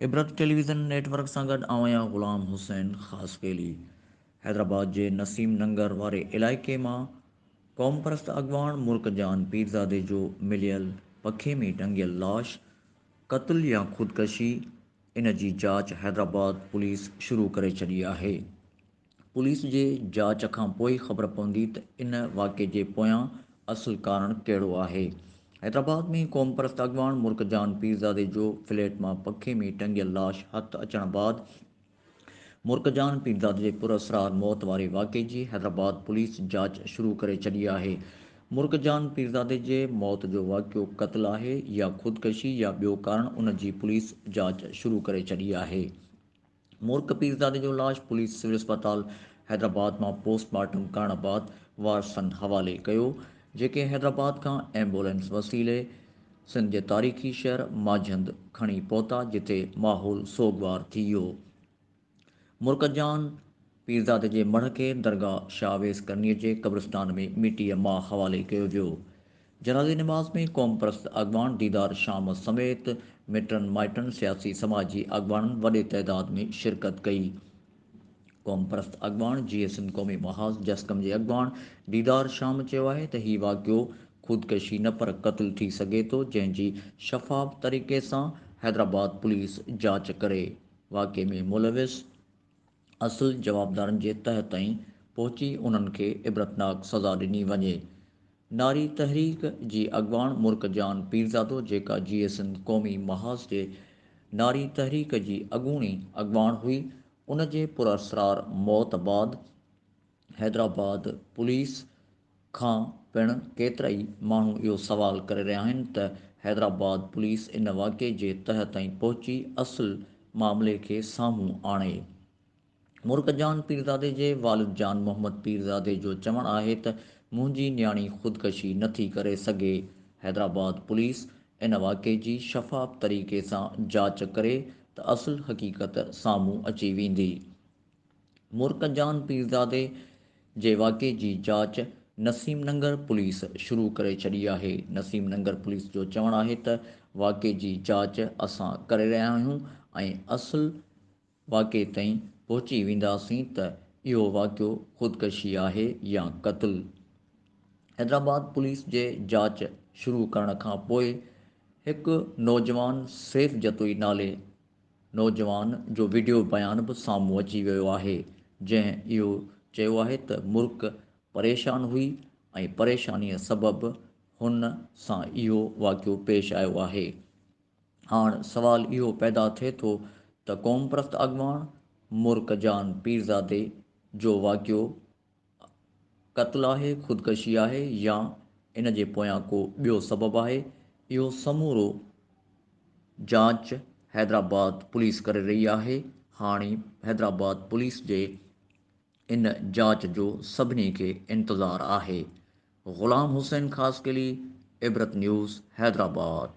عبرت television network سان گڏ آئون آهيان غلام حسين خاصخيلي حيدرآباد جي نسيم ننگر واري علائقي مان قوم پرست اڳواڻ ملڪ جان پيرزادي جو مليل پکي ۾ ٽنگيل لاش قتل يا خودڪشي ان جي جاچ حيدرآباد پوليس شروع ڪري ڇڏي آهي. پوليس جي جاچ کان پوء ئي خبر پوندي ته ان واقعي جي پويان اصل ڪارڻ ڪهڙو آهي. حيدرآباد ۾ قومپرست اڳواڻ مرڪ جان پيرزادي جو فليٽ مان پکي ۾ ٽنگيل لاش هٿ اچڻ بعد، مرڪ جان پيرزاد جي پراسرار موت واري واقعي جي حيدرآباد پوليس جاچ شروع ڪري ڇڏي آهي. مرڪ جان پيرزادي جي موت جو واقعو قتل آهي يا خودڪشي يا ٻيو ڪارڻ ان جي پوليس جاچ شروع ڪري ڇڏي آهي. مرڪ پيرزادي جو لاش پوليس سول اسپتال حيدرآباد مان پوسٽ مارٽم ڪرڻ بعد وارثن حوالي ڪيو جيڪي حيدرآباد کان ايمبولينس وسيلي سنڌ جي تاريخي شهر ماجهند کڻي پهتا جتي ماحول سوڳوار ٿي ويو. مرڪ جان پيرزادي جي مڙهه کي درگاهه شاهه ويس ڪرنيء جي قبرستان ۾ مٽيء ماء حوالي ڪيو ويو. جنازي نماز ۾ قومپرست اڳواڻ ديدار شام سميت مٽن مائٽن، سياسي سماجي اڳواڻن وڏي تعداد ۾ شرڪت ڪئي. قومپرست اڳواڻ جيئي سنڌ قومي محاذ جسقم جي اڳواڻ ديدار شام چيو آهي ته هي واقعو خودڪشي نه پر قتل ٿي سگهي ٿو جنهن جي شفاف طريقي سان حيدرآباد پوليس جاچ ڪري واقعي ۾ ملوث اصل جوابدارن جي تهه تائين پهچي انهن کي عبرتناڪ سزا ڏني وڃي. ناري تحريڪ جي اڳواڻ مرڪ جان پيرزادو جيڪا جي اي سنڌ قومي محاذ جي ناري تحريڪ جي اڳوڻي اڳواڻ هئي ان جي پراسرار موت بعد حيدرآباد پوليس کان پڻ ڪيترائي ماڻهو اهو سوال ڪري رهيا آهن ته حيدرآباد پوليس ان واقعي جي تهه تائين پهچي اصل معاملي کي سامهون آڻي مرڪ جان پيرزادي جي والد جان محمد پيرزادي جو چوڻ آهي ته منهنجي نياڻي خودڪشي نه ٿي ڪري سگهي، حيدرآباد پوليس ان واقعي جي شفاف طريقي سان جاچ ڪري ته اصل حقيقت سامهون اچي ويندي. مرڪ جان پيرزادي جي واقعي جي جاچ نسيم ننگر پوليس شروع ڪري ڇڏي آهي، نسيم ننگر پوليس جو چوڻ آهي ته واقعي جي جاچ اسان ڪري رهيا آهيون ۽ اصل واقعي تائين پهچي وينداسين ته اهو واقعو خودڪشي آهي يا قتل. حيدرآباد پوليس جي جاچ شروع ڪرڻ کان پوء هڪ نوجوان سيف جتوئي نالي نوجوان جو وڊيو بيان به سامهون اچي ويو آهي جنهن اهو چيو آهي ته مرڪ پريشان هئي ۽ پريشاني سبب هن سان اهو واقعو پيش آيو آهي. هاڻ سوال اهو پيدا ٿئي ٿو ته قومپرست اڳواڻ مرڪ جان پيرزادي جو واقعو قتل آهي، خودڪشي آهي يا ان جي پويان ڪو ٻيو سبب آهي، اهو سمورو جاچ حيدرآباد پوليس ڪري رهي آهي، هاڻي حيدرآباد پوليس جي ان جاچ جو سڀني کي انتظار آهي. غلام حسين خاصخيلي، عبرت نيوز، حيدرآباد.